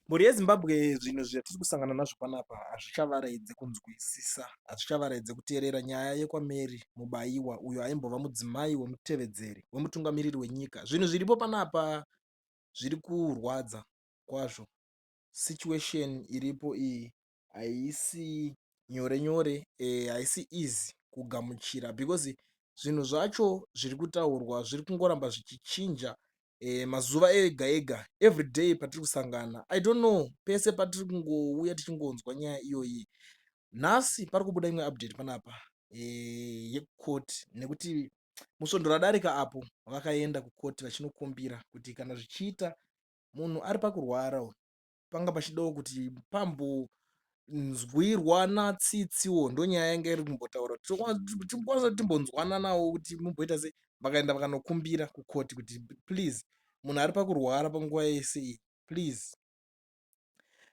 Mhuri yeZimbabwe zvinhu zvatiri kusangana nazvo panapa hazvichavaraidze kunzwisisa, hazvichavaraidze kuteerera nyaya yekwaMary Mubaiwa uyo aimbova mudzimai wemutevedzeri wemutungamiriri wenyika. Zvinhu zviripo panapa zviri kurwadza kwazvo. Situation iripo iyi haisi nyore nyore haisi easy kugamuchira because zvinhu zvacho zviri kutaurwa zviri kungoramba zvichichinja eh, mazuva ega ega everyday patiri kusangana i don't know pese patiri kungouya tichingonzwa nyaya iyoyi nhasi pari kubuda imwe update panapa eh, yekukoti nekuti musvondo radarika apo vakaenda kukoti vachinokumbira kuti kana zvichiita munhu ari pakurwara panga pachidawo kuti pambonzwirwana tsitsiwo ndonyaya yanga iri kumbotaura tikwanisa kuti timbonzwananawo kuti mumboita sei vakaenda vakanokumbira kukoti kuti please munhu ari pakurwara panguva yese iyi please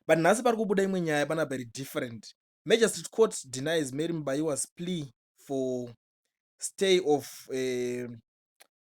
but nhasi pari kubuda imwe nyaya pana very different magistrate court denies mary mubayiwas plea for stay of uh,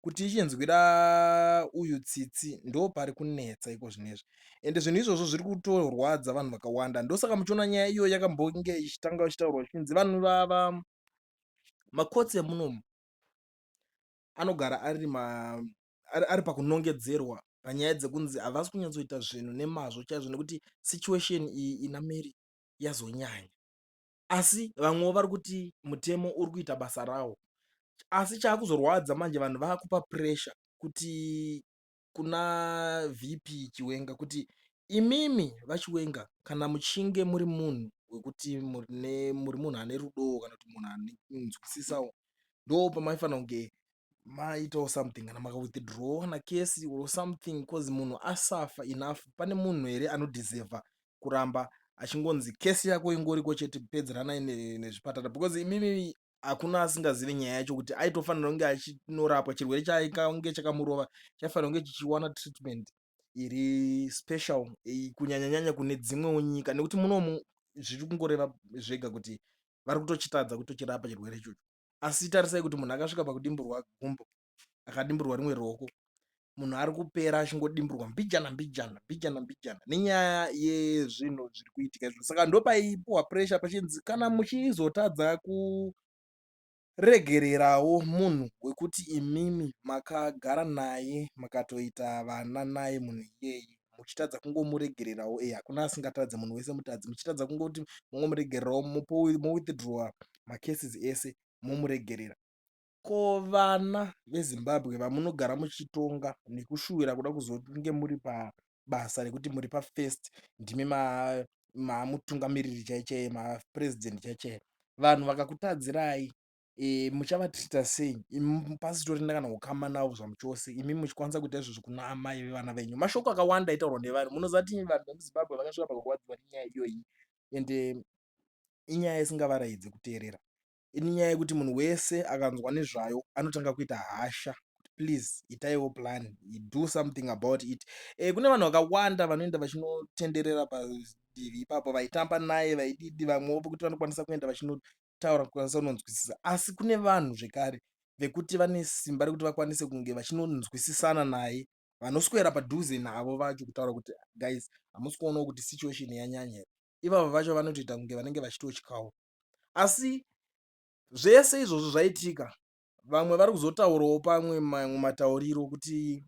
kuti ichinzwira uyu tsitsi ndopari kunetsa iko zvinezvi ende zvinhu izvozvo zviri kutorwadza vanhu vakawanda ndosaka muchiona nyaya iyo yakambonge ichitanga ichitaurwa ichinzi vanhu vava makotsi emunomu anogara ari ma ari, ari pakunongedzerwa panyaya dzekunzi havasi kunyatsoita zvinhu nemazvo chaizvo nekuti situation iyi ina mary yazonyanya asi vamwewo vari kuti mutemo uri kuita basa rawo asi chaakuzorwadza manje vanhu vakupa pressure kuti kuna VP Chiwenga kuti imimi vachiwenga kana muchinge muri munhu wekuti muri munhu ane rudo kana kuti munhu anonzwisisawo ndo pamaifanira kunge maitawo something kana maka withdraw kana kesi or something cause munhu asafa enough pane munhu here anodeserva kuramba achingonzi kesi yako ingoriko chete pedzeranai nezvipatara because imimi hakuna asingazivi nyaya yacho kuti aitofanira kunge achinorapwa chirwere chaikange chakamurova chaifanira kunge chichiwana treatment iri special kunyanyanyanya kune dzimwewo nyika nekuti munomu zviri kungoreva zvega kuti vari kutochitadza kutochirapa chirwere ichocho asi tarisai kuti munhu akasvika pakudimburwa gumbo akadimburwa rimwe ruoko munhu ari kupera achingodimburwa mbijana mbijana mbijana mbijana nenyaya yezvinhu zviri kuitika izvo saka ndopaipuwa pressure pachinzi kana muchizotadza kuregererawo munhu wekuti imimi makagara naye makatoita vana naye munhu iyeye muchitadza kungomuregererawo eeh hakuna asingatadze munhu wese mutadzi muchitadza kungoti mongomuregererawo mowithdrowa macases ese momuregerera ko vana vezimbabwe vamunogara muchitonga nekushuwira kuda kuzonge muri pabasa rekuti muri pafirst ndimi mamutungamiriri chaichaiye mapresident chaichaiye vanhu vakakutadzirai muchavatreater sei imi pasitorina kana ukama navo zvamuchose imi muchikwanisa kuita izvozvo kuna amai vevana venyu mashoko akawanda aitaurwa nevanhu munoziva kuti vanhu vemuzimbabwe vakasvika pakurwadziwa nenyaya iyoyi and inyaya isingavaraidzi kuteerera inyaya yekuti munhu wese akanzwa nezvayo anotanga kuita hasha please itaiwo plan do something about it e, kune vanhu vakawanda vanoenda vachinotenderera padivi ipapo vaitamba naye vaididi vamwewo pokuti vanokwanisa kuenda vachinoda kutaura kukwanisa kunonzwisisa asi kune vanhu zvekare vekuti vane simba rekuti vakwanise kunge vachinonzwisisana naye vanoswera padhuze navo vacho kutaura kuti guys hamusi kuonawo kuti situation yanyanya here ivavo vacho vanotoita kunge vanenge vachitotyawo asi zvese izvozvo zvaitika vamwe vari kuzotaurawo pamwe mamwe matauriro kuti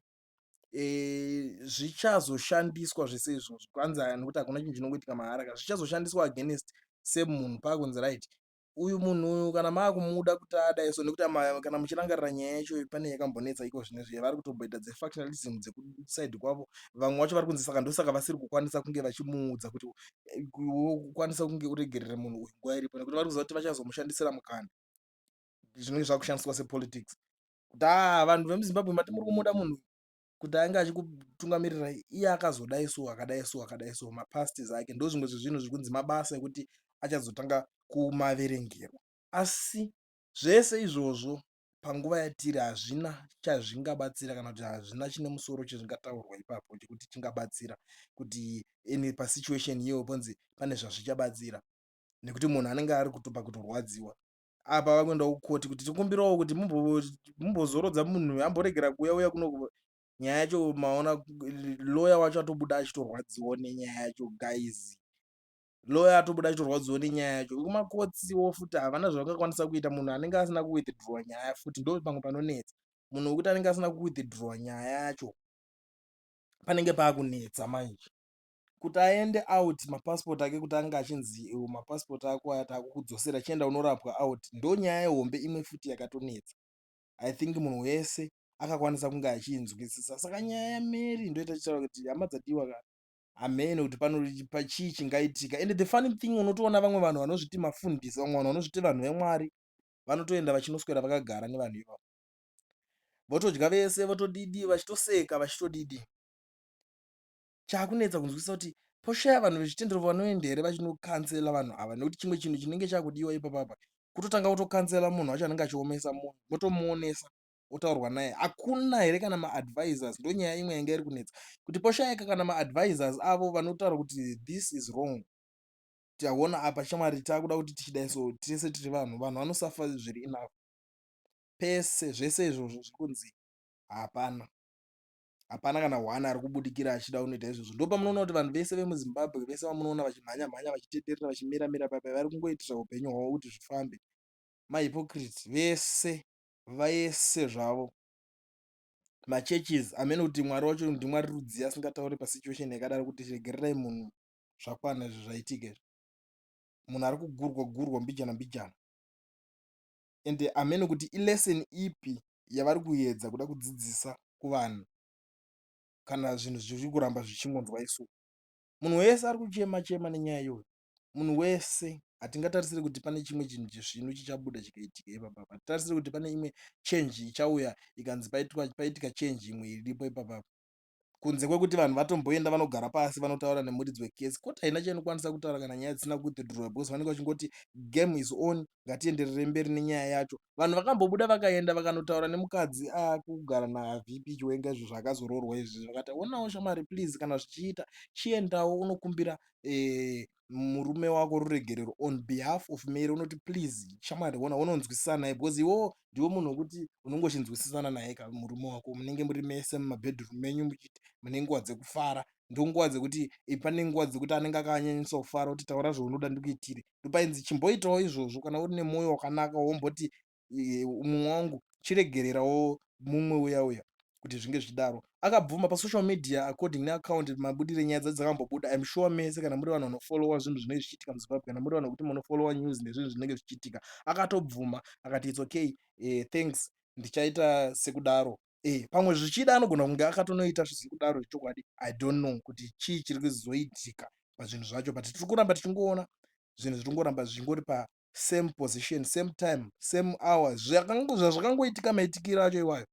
zvichazoshandiswa zvese izvozvo kwanzi aya nekuti hakuna chinhu chinongoitika mahara ka zvichazoshandiswa against same munhu paakunzi right uyu munhu uyu kana maakumuda kuti adai so nekuti kana muchirangarira nyaya yacho pane yakambonetsa iko zvine zviye vari kutomboita dzefactionalism dzekusaidi kwavo vamwe vacho vari kunzi saka ndosaka vasiri kukwanisa kunge vachimuudza kuti eh, ukwanisa kunge uregerere munhu uyu nguva iripo nekuti vari kuziva kuti vachazomushandisira mukana zvinenge zvakushandiswa sepolitics kuti haa vanhu vemuzimbabwe mati muri kumuda munhu kuti ange achikutungamirirai iye akazodai so akadai so akadai so mapastes ake ndo zvimwe zvezvinhu zviri kunzi mabasa ekuti achazotanga kumaverengero asi zvese izvozvo panguva yatiri hazvina chazvingabatsira kana kuti hazvina chine musoro chezvingataurwa ipapo chekuti chingabatsira kuti in pasituation iyoyo ponzi pane zvazvichabatsira nekuti munhu anenge ari kutopa kutorwadziwa apa vakuenda kucourt kuti tikumbirawo kuti mumbozorodza munhu uyu amboregera kuuya uya kuno nyaya yacho maona lawyer wacho atobuda achitorwadziwo nenyaya yacho guys lawyer atobuda achitorwadziwo nenyaya yacho vekumakotsiwo futi havana zvavangakwanisa kuita munhu anenge asina kuwithdrowa nyaya futi ndo pamwe panonetsa munhu wekuti anenge asina kuwithdrowa nyaya yacho panenge paakunetsa manje kuti aende out mapasipoti ake kuti ange achinzi iwo mapasipoti ako aya taakukudzosera chienda unorapwa out ndonyaya yehombe imwe futi yakatonetsa i think munhu wese akakwanisa kunge achiinzwisisa saka nyaya yamary ndoita chitaura kuti hama dzadiwa ka hamene kuti panopa chii chingaitika and the funny thing unotoona vamwe vanhu vanozviti mafundisi vamwe vanhu vanozviti vanhu vemwari vanotoenda vachinoswera vakagara nevanhu ivavo votodya vese votodidi vachitoseka vachitodidi chakunetsa kunzwisisa kuti poshaya vanhu vezvitendero vanoenda here vachinokansela vanhu ava nekuti chimwe chinhu chinenge chakudiwa ipapapa kutotanga kutokansela munhu wacho anenge achiomesa munhu motomuonesa otaurwa naye hakuna here kana maadvisors ndonyaya imwe yanga iri kunetsa kuti poshayika kana maadvisors avo vanotaura kuti this is wrong taona apa shamwari takuda kuti tichidai so tese tiri vanhu vanhu vanosafa zviri enough pese zvese izvozvo zvikunzi hapana hapana kana one ari kubudikira achida unoita izvozvo ndopamunoona kuti vanhu vese vemuzimbabwe vese vamunoona vachimhanya mhanya vachitenderera vachimira mira pape vari kungoitisa upenyu hwavo kuti zvifambe mahypocrite vese vese zvavo machurches amene kuti mwari wacho ndimwari rudzii asingatauri pasituation yakadaro kuti regererai munhu zvakwana izvi zvaitika izvi munhu ari kugurwa gurwa mbijana mbijana ende hameno kuti i lesson ipi yavari kuedza kuda kudzidzisa kuvanhu kana zvinhu zviri kuramba zvichingonzwa isu. Munhu wese ari kuchema chema nenyaya iyoyo. Munhu wese hatingatarisiri kuti pane chimwe chinhu chesvinu chichabuda chikaitika ipapa. Hatitarisiri kuti pane imwe change ichauya ikanzi paitika change imwe iripo ipapa. kunze kwekuti vanhu vatomboenda vanogara pasi vanotaura nemuridzi wekesi koti haina chainokwanisa kutaura kana nyaya dzisina kuwithdrowa because vanenge vachingoti game is on ngatienderere mberi nenyaya yacho vanhu vakambobuda vakaenda vakanotaura nemukadzi akugara ah, navp chiwenga izvo zvaakazoroorwa izvi zvakati onawo shamari please kana zvichiita chiendawo unokumbira eh, murume wako ruregerero on behalf of Mary unoti please shamwari hona hononzwisisa naye because iwewo ndiwe munhu wekuti unongochinzwisisana naye ka murume wako munenge muri mese mumabedroom menyu muchiti mune nguva dzekufara ndonguva dzekuti eh, pane nguva dzekuti anenge akanyanyisa kufara kuti taura zvaunoda ndikuitire ndopainzi chimboitawo izvozvo kana uri nemwoyo wakanaka womboti mumwe wangu chiregererawo mumwe uya uya kuti zvinge zvichidaro akabvuma pasocial media according neaccount mabudire nyaya dzacho dzakambobuda im sure mese kana muri vanhu vanofollowa zvinhu zvinenge zvichiitika muzimbabwe kana muri vanhu vekuti munofollowa news nezvinhu zvinenge zvichiitika akatobvuma akati its okay eh, thanks ndichaita sekudaro Eh, pamwe zvichida anogona kunge akatonoita zvisiri kudaro zvechokwadi i don't know kuti chii chiri kuzoitika pazvinhu zvacho but tiri kuramba tichingoona zvinhu zviri kungoramba zvichingori same position same time same hour zvazvakangoitika maitikiro acho iwayo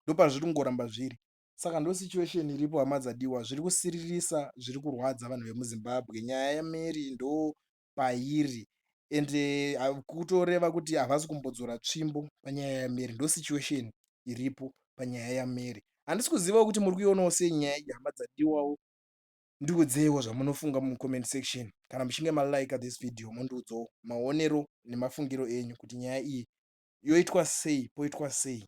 ndopazviri kungoramba zviri saka ndo situation iripo hama dzadiwa zviri kusiririsa zviri kurwadza vanhu vemuzimbabwe nyaya yamary ndo pairi and eh, kutoreva kuti havasi kumbodzora tsvimbo panyaya yamary ndo situation iripo panyaya yamary handisi kuzivawo kuti muri kuionawo sei nyaya iyi hama dzadiwawo Ndiudzeiwo zvamunofunga mucomment section kana muchinge malike this video mondiudzawo maonero nemafungiro enyu kuti nyaya iyi yoitwa sei poitwa sei.